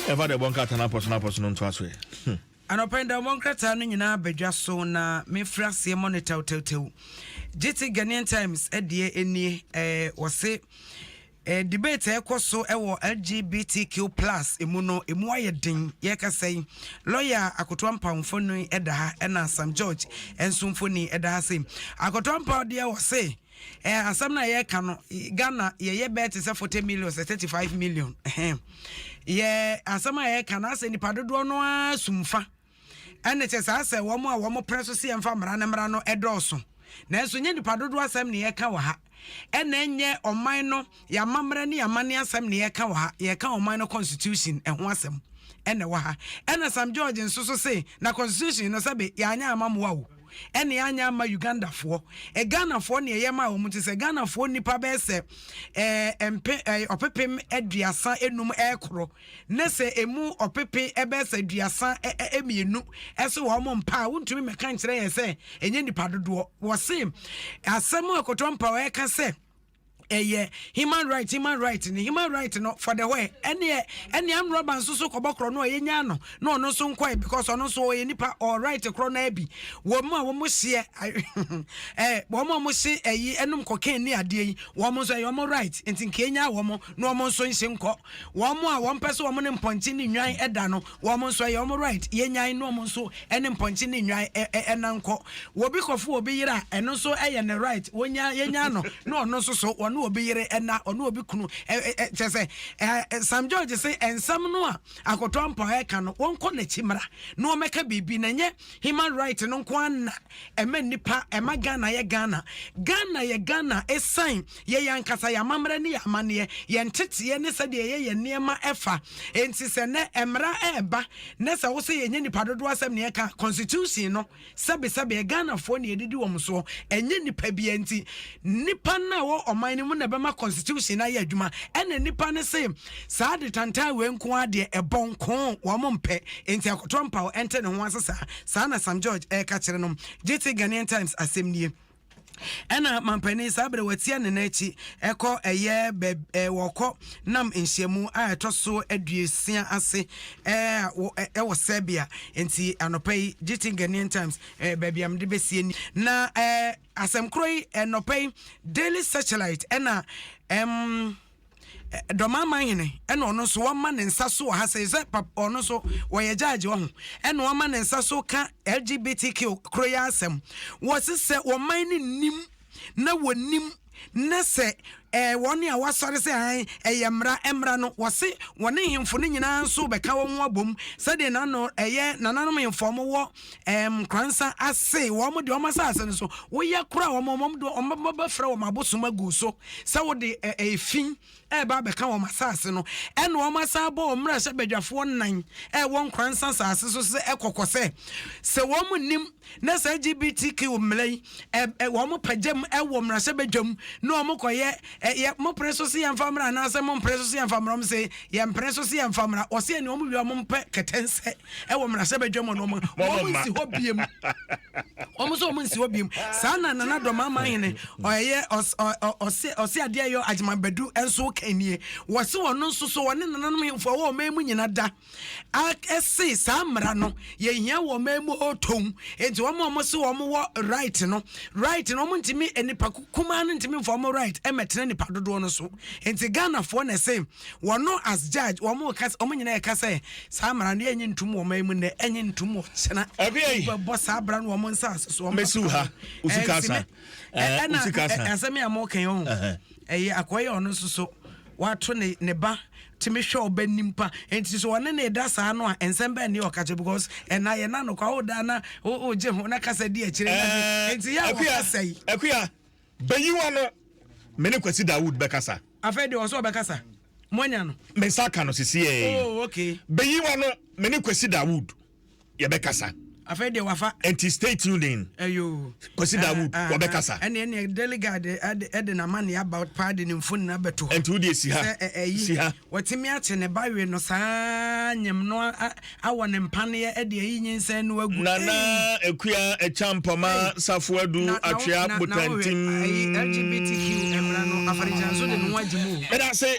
Ɛfa deɛ ɛbɔ nkrataa no apɔso no apɔso no ntoa so ɛ. Hmm. Anɔpa yi da wɔn nkrataa no nyinaa badwa so na mefiri aseɛ mɔ no tɛwtɛwtɛw gye te Ghanaian Times deɛ nie ɛɛ wɔse ɛɛ debate a ɛkɔ so ɛwɔ LGBTQ plus emu no emu ayɛ den yɛkasa yi lɔya Akoto Ampaw mfoni ɛda ha ɛna Sam George nso mfoni ɛda ha se Akoto Ampaw deɛ wɔse Eh asɛm no a yɛka no Ghana yɛyɛ bɛɛ te sɛ 40 million sɛ 35 million yɛ asɛm a yɛka no asɛ nipa dodoɔ no ara sumfa ɛne kyɛ saa sɛ wɔn a wɔn pere so sɛ yɛmfa mmara no mmara no ɛdɔɔso nanso nyɛ nipa dodoɔ asɛm ne yɛka wɔ ha ɛna ɛnyɛ ɔman no yɛamammerɛ ne yɛamane asɛm ne yɛka wɔ ha yɛka ɔman no constitution ɛho asɛm ɛna wɔ ha ɛna sam george nso so se na constitution no sɛbe yɛanyɛ amammoa o ɛne anyɛ ama Ugandafoɔ. Eh, Ghanafoɔ neɛ yɛmaa wɔn nti sɛ Ghanafoɔ nnipa bɛyɛ sɛ eh, mpe, eh, ɔpepem aduasa enum ɛrekoro ne sɛ emu ɔpepe ɛbɛyɛ sɛ aduasa eh, eh, mmienu ɛso wɔ wɔn mpa a wontumi mɛka nkyerɛ yɛn sɛ ɛnyɛ nipa dodoɔ. Wɔse asɛm a Koto Ampaw ɛreka sɛ ɛyɛ human right human right ne human right no for the way ɛneɛ ɛne amrɔba nso so kɔbɔ korɔ no a yɛnya no na ɔno nso nkɔɛ because ɔno nso ɔyɛ nipa ɔ right korɔ no abi wɔn a wɔn seɛ ɛɛ wɔn a wɔn se ɛyi ɛnum kɔkɛn ne adeɛ yi wɔn nso ɛyɛ wɔn right nti nka enya wɔn na wɔn nso nhyɛ nkɔ wɔn a wɔn pɛ so wɔn ne mpɔnkye ne nwan ɛda no Wɔn nso ɛyɛ wɔn right, yɛnyan na wɔn nso ne mpɔnkye ne nnwan nna nkɔ. Obi kɔfo obi yere a, ɛno nso yɛ ne right, wɔnyan, yɛnyan no na ɔno nso so ɔne obi yere nna, ɔne obi kunu. Kyerɛ sɛ, Sam George se nsɛm no a Akoto Ampaw reka no, wɔnkɔ n'akyi mmra na wɔmmɛka biribi na ɛnyɛ human right no nko ara na ɛma nnipa, ɛma Ghana yɛ Ghana. Ghana yɛ Ghana esiane Yɛ yɛn ankasa yɛn amammerɛ ne yɛn amanneɛ, yɛn nteteɛ ne sɛdeɛ yɛyɛ yɛn nneɛma fa. Enti sɛ nnɛ mmara reba na sɛ wo sɛ yɛnyɛ nnipa dodoɔ asɛm na yɛka Constitution no sɛbesɛbeɛ, Ghanafoɔ na yɛdidi wɔn soɔ, ɛnyɛ nnipa biara nti. Nnipa no a ɛwɔ ɔman no mu na ɛbɛma Constitution no ayɛ adwuma. Ɛna nnipa no se saa detantan wei nko ara deɛ ɛbɔ nko wɔn mpɛ, enti Akoto Ampaw nte ne ho ase saa. Saa na Sam George reka kyerɛ no. Gyete Ghanaian Times asɛm nie. Ɛna mampanin saa berɛ watia ne nan akyi ɛkɔ ɛyɛ bɛb ɛɛ wɔkɔ nam nhyiamu a ɛtɔ so aduosia ase ɛɛ ɛwɔ Serbia nti anɔpa yi GT Ghanaian Times ɛɛ baabi a mede bɛsie ni na ɛɛ asɛm korɔ yi ɛnɔpa yi Daily Searchlight ɛna ɛm. dɔm aman hene ɛna ɔno nso wɔma ne nsa so wɔ ha sɛ sɛ ɔno nso wɔyɛ gyaagye wɔ ho ɛna wɔma ne nsa so ka lgbtq koro yɛ asɛm wɔsi sɛ wɔman ne nim na wɔnim na sɛ ɛɛ eh, wɔn a wɔasɔre sɛ han ɛyɛ mmara mmara no wɔsi wɔne hemfo no nyinaa nso bɛka wɔn ho abom sɛdeɛ nano ɛyɛ nananom hemfo wɔn wɔ ɛɛm, Nkoransa ase, wɔn de wɔn asase no so, woyɛ kora wɔn, wɔn de wɔn bɛfrɛ wɔn abosom agu so, sɛ wode efi ɛɛba abɛka wɔn asase no, ɛna wɔn asan bɔ wɔn mmara sɛ badwafoɔ nan ɛɛwɔ Nkoransa asase so sɛ ɛkɔkɔ sɛ, sɛ wɔn nim na saa LGBTQ mmara yi wɔn pagyam wɔ mmarahyɛbadwam na wɔn kɔyɛ yɛ mo pere so se yɛn fa mmara anaasɛ mo mpere so se yɛn fa mmara wɔn se yɛn mpere so se yɛn fa mmara wɔsi yɛn na wɔn wia wɔn mpɛ kɛtɛnsɛ wɔ mmarahyɛbadwam wɔn wɔn wɔn nsi hɔ biem wɔn nso wɔn nsi hɔ biem saa na nana dɔm ama ahene ɔyɛ ɔse ɔse adeɛ yɛ agyemabadu nso kan nie wɔsi wɔn nso so wɔn ne nananom hemfo a wɔn ɔman mu nyina da. Ak se saa mmara no yɛhia wɔ ɔman mu o tow nti wɔn a wɔn se wɔn wɔ right no right no wɔn ntumi nipa kumaa no ntumi nfa wɔn right ɛmɛtena nipa dodoɔ no so nti ghanafoɔ na ɛse wɔn no as judge wɔn ka wɔn nyinaa ɛka sɛ saa mmara no yɛnye ntum wɔ ɔman mu nnɛ ɛnye ntum wɔ kyena bɛbɔ saa abra no wɔn nsa ase so wɔn mɛsiw ha usika sa ɛna asɛm yɛ a mo kɛn ho ɛyɛ akɔyɛ ɔno nso so wato ne ne ba tumi hwɛ ɔba nim pa nti so ɔne ne da saa no a nsɛm bɛn ne ɔka kyɛ because ɛna yɛ na no kwa o da na o o gye ho na kasa di akyire na de nti yɛ a wɔka sɛ yi. akuya bɛyi wa no me ne kwasi dawood bɛkasa. afei deɛ ɔsɛ ɔbɛkasa moanya no. me nsa ka no sisi yɛ. oh okay. bɛyi wa no me ne kwasi dawood. yɛbɛkasa. afei deɛ wafa. nti stay tuned in. ɛyo. kwasi da wood wɔbɛkasa. ɛne ɛne daily guard ɛde na ma ne about paa de ne mfo nyinaa bɛto hɔ. nti wo deɛ si ha si ha. wɔtumi akye ne ba we no saa nyem no awɔ ne mpaneɛ ɛde ayi nyinsɛn no agu. nana akua ɛkya mpɔma safo adu atwea botantim. ɛyi lgbtq mmara no afɔrehyɛnso de ne ho agye mu. ɛda se.